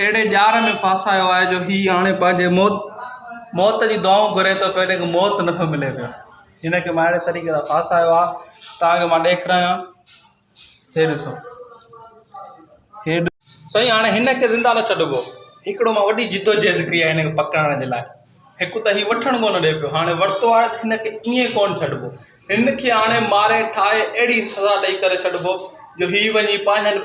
اهڙي ڄار ۾ ڦاسايو آهي جو هي هاڻي پنهنجي موت موت جي دعائون گهري ٿو پيو ان کي موت نه ٿو ملي پيو هن کي ماهڙي طريقي سان ڦاسايو آهي تان جو مان ڏيکرايان هي ڏسو هي سائين هاڻي هن کي زنده نه ڇڏبو هڪڙو مان وڏي جدوجهد ڪئي آهي هن کي پڪڙائڻ جي لاء هڪ ته هي وٺڻ ڪونه ڏي پيو هاڻي ورتو آهي ته هن کي ائين ڪونه ڇڏبو هن کي هاڻي ماري ٺاهي اهڙي سزا ڏئي ڪري ڇڏبو جو هي وڃي پنهنجن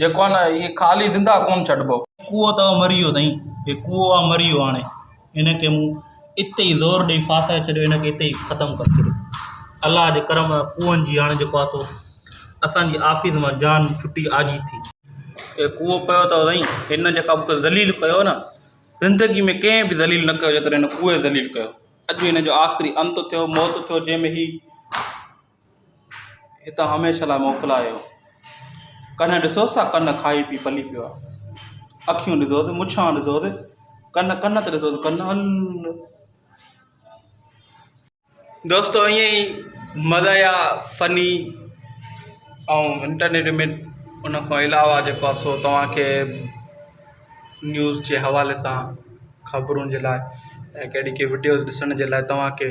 جيڪو آهي نه هي خالي زندهه ڪونه ڇڏبو. ڪوئو ته مري ويو سائين. هي ڪوئو آهي مري ويو هاڻي هن کي مون اتي ئي زور ڏئي ڦاسائي ڇڏيو هن کي اتي ئي ختم ڪري ڇڏيو الله جي ڪرم سان ڪوئن جي هاڻي جيڪو آهي سو اسان جي آفيس مان جان ڇٽي آجي ٿي. هي ڪوئو پيو اٿو سائين هن جيڪا مون کي ذليل ڪيو نه زندگي ۾ ڪنهن به ذليل نه ڪيو جيترو هن ڪوئي ذليل ڪيو اڄ هن جو آخري انت ٿيو موت ٿيو جنهن ۾ هي اتان هميشه لاء موڪلايو. ڪنھن ڏسوس ته ڪن کائي پي پلي پيو آ. اکيون ڏسوس، مڇان ڏسوس، ڪن ڪن ته ڏسوس ڪن الھ. دوستو ائين ئي مزاحيه فني ۽ انٽرٽينمينٽ ان کان علاوه جيڪو سو توهانکي نيوز جي حوالي سان خبرون جي لاء ڪهڙي ڪهڙي وڊيوز ڏسڻ جي لاء توهانکي